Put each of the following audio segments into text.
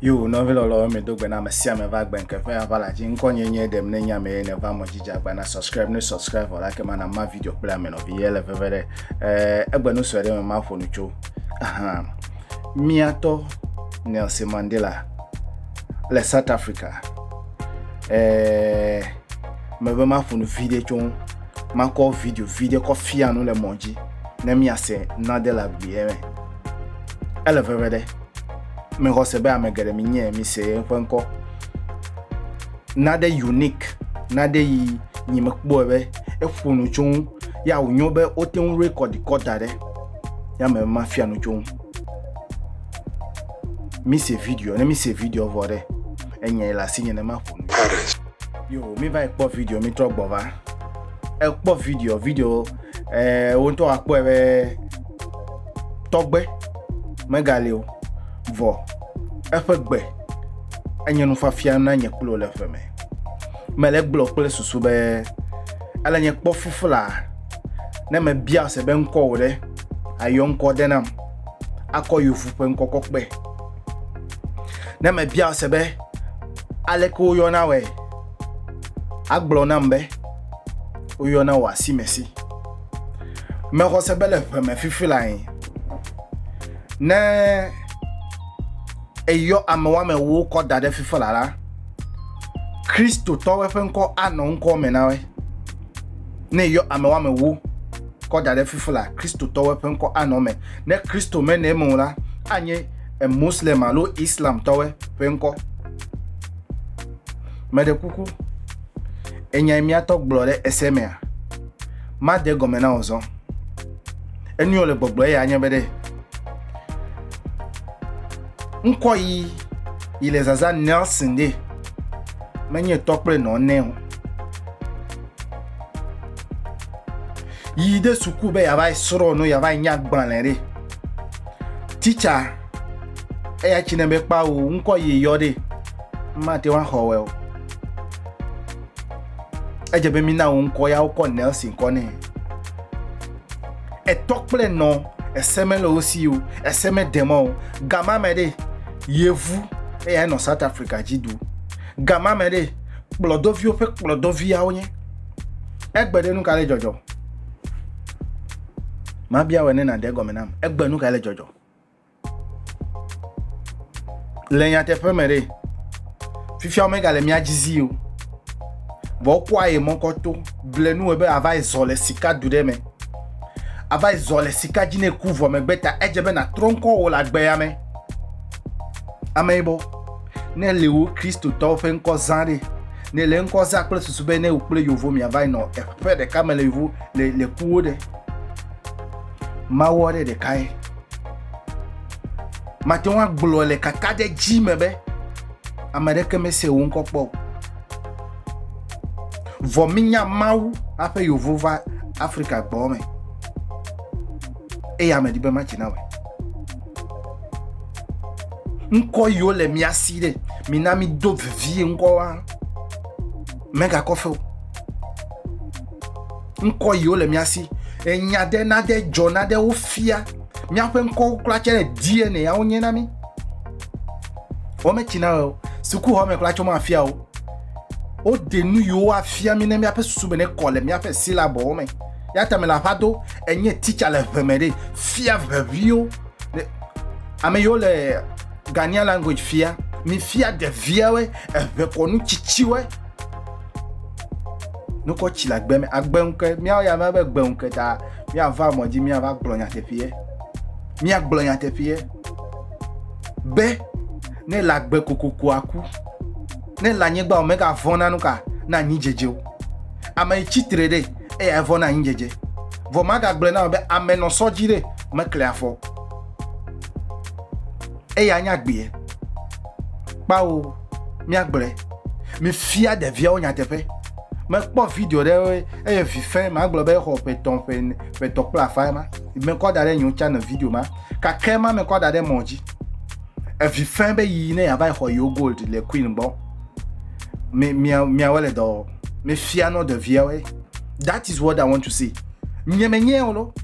Yo, nɔvi lɔlɔ mi do gbe na ame sia ame va gbe nke ƒe ava la dzi ŋkɔ nye nye ɖem ne nya me ne va mɔ dzidzi agba na subscribe ne subscribe wɔ la ke mana ma video kple ame nɔvi ye le veve ɖe eh, egbe nu sue ɖe me ma ƒo nu tso miatɔ Nelson Mandela le South Africa eh, mebe maƒo nu vi ɖe tso ŋu makɔ video vi ɖe kɔ fia nu le mɔ dzi ne miase nade le agbeɛ me ele veve ɖe mexɔ se be ame geɖe mi nye mi se eƒe ŋkɔ nade unique nade yi nyi mekpɔe be eƒo nu tso ŋu ya wònyo be wote ŋu rekɔdi kɔ da ɖe ya me mafia nu tso ŋu mi se video ne mi se video vɔ ɖe Enyae le asinye ne maƒo nu. Parents. Yo, mi va ekpɔ video mi trɔ gbɔ va. Ekpɔ video, video eh wo ŋutɔ akpɔe be tɔgbe megali o. Vɔ eƒe gbe enye nufafia na nye kple wò le ƒe me. Mele gblɔ kple susu be ele nye kpɔ fufla ne mebia se be ŋkɔ wò ɖe ayɔ ŋkɔ de nam akɔ yovu ƒe ŋkɔ kɔkpe. Ne mebia se be aleke woyɔna wɔe, agblɔ nam be woyɔna wɔ asi me si. Mexɔ se be le ƒe me fifi lae. Ne eyɔ ame woame wo kɔ da ɖe fifi la la, Kristotɔwo ƒe ŋkɔ anɔ ŋkɔ me na wɔe. Ne eyɔ ame woame wo kɔ da ɖe fifi la, Kristotɔwo ƒe ŋkɔ anɔ me. Ne Kristo mene eme o la, anye Moslem alo Islamtɔwe ƒe ŋkɔ. Meɖe kuku, enyae míatɔ gblɔ ɖe ese mea? Made gɔme na wò zɔ. Enuyɔ le gbɔgblɔ eya anye be ɖe ŋkɔ yi yi le zaza Nelson ɖe menye tɔ kple nɔ ne o. yi ɖe suku be yeava yi srɔ̃ nu yeava yi nya agbalẽ ɖe titsa eya tsi ne be kpa o ŋkɔ yi yɔ ɖe mate ŋu axɔ wɛ o edze be mina wo ŋkɔ ya wokɔ nelson kɔ nɛ etɔ kple nɔ ese mele wo si o ese meɖe mɔ o gama me ɖe yevu eya enɔ south africa dzi du gama me ɖe kplɔdɔviwo ƒe kplɔdɔviawo nye Egbe ɖe nu ka le dzɔdzɔ? Mabia wɔ ne nàde egɔme nam. Egbe nu ka le dzɔdzɔ? Le nyateƒe me ɖe, fifia womegale mía dzi zi o. Vɔ wokɔa ye mɔkɔ to ble nu be ava yi zɔ le sika du ɖe me. Ava yi zɔ le sika dzi ne ku vɔ megbe ta edze be nàtrɔ ŋkɔ wò le agbea me. Ame yibɔ. Ne le wo Kristotɔwo ƒe ŋkɔ zã ɖe, ne le ŋkɔ zã kple susu be ne wò kple yovo miava yi nɔ eƒe ɖeka me le yovo le le kuwo ɖe, mawɔ ɖe ɖeka ye. Mate ŋu agblɔ le kaka ɖe dzi me be ame ɖeke mese wo ŋkɔ kpɔ o. Vɔ minya Mawu aƒe yovo va Afrika gbɔ me. Eye ame ɖi be matsi na wɔ. ŋkɔ yiwo le mía si ɖe mina mi do vevie ŋkɔ wa mega kɔfɛ o ŋkɔ yiwo le mía si enya ɖe na ɖe dzɔ na ɖe wo fia míaƒe ŋkɔwo kura tsɛ le dna yawo nye na mi wo me tsi na o sukuxɔ me kura tsɔ ma fia o wo de nu yiwo afia mi ne míaƒe susu me ne kɔ le míaƒe silabɔwo me. Ya ta mele aƒa do enye teacher le ʋe me ɖe fia ʋeviwo. Ame yiwo le Ghanaian language fia, mi fia ɖeviawe eʋe kɔnu tsitsiwe. Nukɔ tsi le agbe me, agbe ŋkɛ, miawo ya mia be gbe ŋkɛ ta miava mɔ dzi miava gblɔ nyateƒeɛ. Mia gblɔ nyateƒeɛ be ne le agbe kokoko aku, ne le anyigba o mega vɔna nuka na anyi dzedze o. Ame yi tsitre ɖe. eya evɔ na anyi dzedze. Vɔ magagblɔe na wò be ame nɔ sɔ dzi ɖe mekle afɔ. Eya nya gbeɛ. Kpao míagblɔe. Mifia ɖeviawo nyateƒe. Mekpɔ video ɖe eye vi fɛn magblɔ be exɔ ƒe tɔn ƒe ƒe tɔ kple afa ema. Mekɔ da ɖe nyewo tsa ne video ma. Kake ma mekɔ da ɖe mɔ dzi. Evi fɛn be yi ne yava exɔ yewo gold le queen gbɔ. Mia mia wele dɔ. mefia nɔ ɖeviawoe that is what i want to see nye menyɛ o lo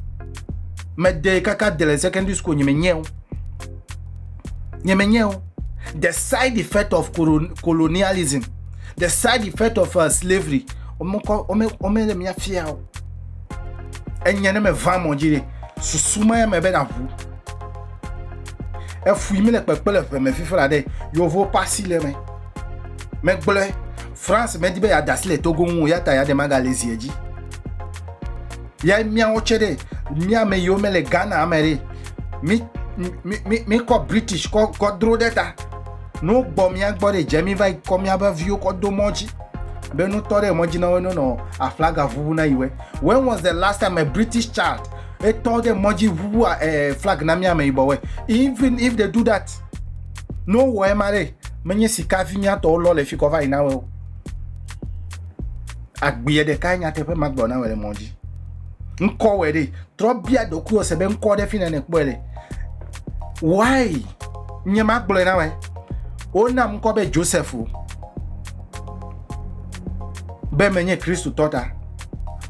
mede kaka de le secondary school nye menyɛ o nye menyɛ o the side effect of colonialism the side effect of uh, slavery omekɔ ome ome le mia fia o enya ne me va mɔ dzi de susu ma ya me be na ʋu efui mi le kpekpe le ʋeme fifi la de yovo pasi le me. megblɔe france medi be yeada asi le togo ŋu o ya ta yaɖe magale zi edzi ya míawo tsɛ ɖe míame yiwo mele ghana ame ɖe mi mi mi mi kɔ british kɔ kɔ dro ɖe ta no gbɔ mía gbɔ ɖe dze mi va kɔ míaƒe viwo kɔ do mɔ dzi be nutɔ ɖe mɔ dzi na wo ne nɔ aflaga ʋuʋu na yiwe when was the last time a british child etɔ ɖe mɔ dzi ʋuʋu eh, flag na míame yibɔwe even if they do that Ne wowɔ ema ɖe, menye sika vi nyatɔwo lɔ le fi kɔ va yi na wɔ o. Agbeɛ ɖeka ye nyateƒe ma gblɔ na wɔ le mɔ dzi. Ŋkɔ wɔ ɖe, trɔ bia ɖokuiwò se be ŋkɔ ɖe fi nene kpɔe le. Why? Nye ma gblɔe na wɔ. Wona ŋkɔ be Joseph o. Be menye Kristo tɔ ta.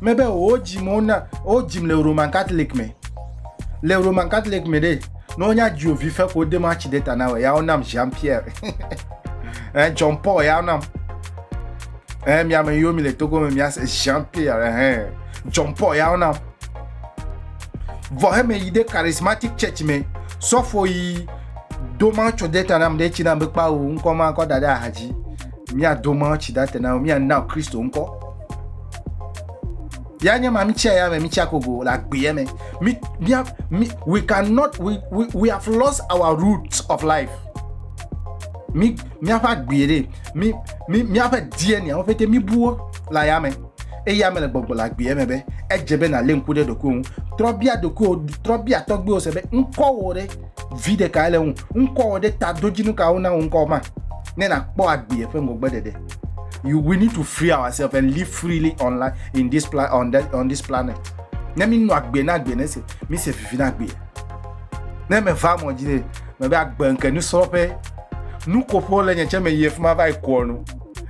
Mebe wo dzim wona, wo dzim le Roman Catholic me. Le Roman Catholic me ɖe, Ne wonya dziwò vi fe ko wode matsi ɖe ta na wò ya wonam Jean Pierre eh, John Paul ya wonam eh, mi ame yiwo mi le Togo me miase Jean Pierre eh, John Paul ya wonam vɔ heme yi ɖe charismatic church me sɔfo yi do matsi ɖe ta nam ɖe tsi nam be kpa wò ŋkɔ ma kɔ da ɖe aha dzi miado matsi ɖe ta na wò miana Kristo ŋkɔ. Ya nye ma, mitsi aya me, mitsi akogo le agbeɛ me. Mi, mia, mi, we cannot, we, we, we have lost our roots of life. Mi, miaƒe agbeɛ ɖe, mi, mi, miaƒe DNA wo pete mibuwo le aya me. Eya me le gbɔgbɔ le agbeɛ me be, edze be nalé ŋku ɖe ɖokuiwo ŋu. Trɔ bia ɖokuiwo, trɔ bia tɔgbewo se be, ŋkɔwo ɖe, vi ɖekae le ŋu, ŋkɔwo ɖe, tadodzinu kawo na wò ŋkɔwo ma, ne nàkpɔ agbeɛ ƒe ŋgɔgbeɖeɖe. you, we need to free ourselves and live freely on, life, in this pla on, the, on this planet ne mi nɔ agbe na agbe ne se mi se vivi na agbe ne me va mɔ dzi ne me be agbe nke nusrɔ̃ƒe nukoƒo le nye tsɛ me yi efima va yi kɔ nu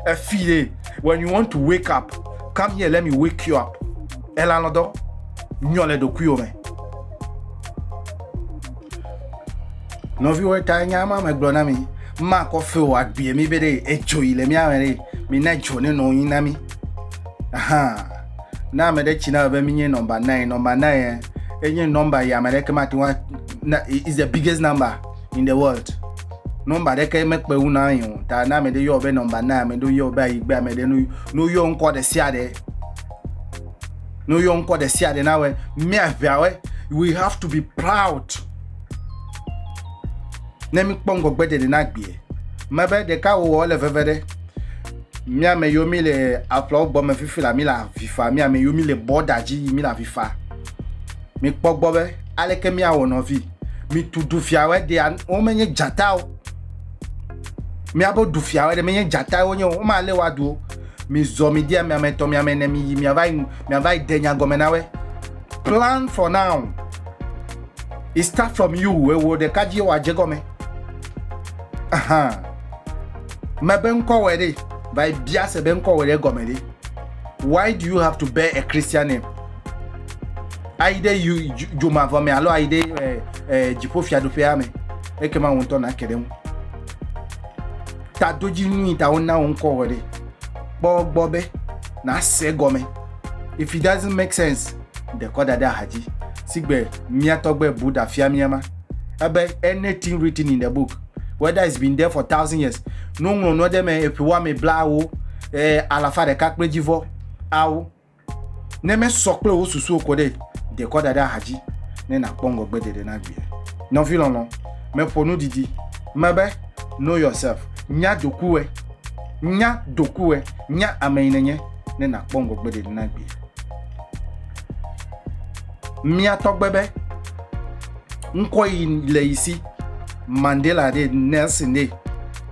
efi ye when you want to wake up come here let me wake you up elanɔdɔ nyɔ le ɖokuiwo me. Nɔviwo ta nya ma megblɔ na mi. Makɔ fe o agbie mi be ɖe edzo yi le mía me ɖe mi na dzo ne nɔ yi na mi. Aha. Na ame ɖe tsi na be mi nye nɔmba nine. Nɔmba nine enye nɔmba ya ame ɖeke mate ŋu na is the biggest number in the world. Nɔmba ɖeke mekpe ŋu na yi o. Ta na ame ɖe yɔ be nɔmba nine, ame ɖe yɔ be ayigbe, ame ɖe no yɔ ŋkɔ ɖe sia ɖe. ne woyɔ ŋkɔ ɖe sia ɖe nawɔe míaʋeawɔe we have to be proud ne míkpɔ ŋgɔgbe ɖeɖe na gbee mebe ɖeka wowɔ le veve ɖe míame yiwo mi le aƒlawo gbɔ me fifi la mi le avi fa míame yiwo mi le bɔda dzi yi mi le avi fa mikpɔ gbɔ be aleke míawɔ nɔvi mitu du fiawɔe ɖe womenye dzatawo míabe du fiawɔe ɖe menye dzatawo nye o womalé woaduwo Mizɔ midi ame ame etɔ̃ miame ene miyi miava yi miava yi de nya gɔme na we. Plan for now. It start from you ewɔ ɖeka dzi wɔ adze gɔme. Ahan. Mebe ŋkɔ wɔ ɖe va yi bia se be ŋkɔ wɔ ɖe gɔme ɖe. Why do you have to bear a Christian name? Ayi ɖe yu dzomavɔ me alo ayi ɖe eh, eh, dziƒo fiaɖuƒea me. Ekema wo ŋutɔ nake ɖe ŋu. Tadodzinu yi ta wona wò ŋkɔ wɔ ɖe. Kpɔ gbɔ be nàse egɔme. If it doesn't make sense, ɖe kɔ da ɖe axadzi. Sigbe mía tɔgbe Buddha fia mía ma. Ebe anything written in the book, whether it's been there for thousand years, ne woŋlɔ nua ɖe eme eƒe woame blawo, e, alafa ɖeka kple dzivɔ awo, Ne mesɔ kple wò susuwo ko ɖe, de kɔ da ɖe axadzi ne nàkpɔ ŋgɔgbe ɖeɖe na vie. Nɔvi lɔlɔ̃, meƒo nu didi me be, Know yourself, nya dokuwòe, nya dokuwòe, nya ame yi nènye ne nàkpɔ ŋgɔgbe ɖeɖe na vie. Mía tɔgbe be ŋkɔ yi le yi si, Mandela ɖee, Nelson ɖee.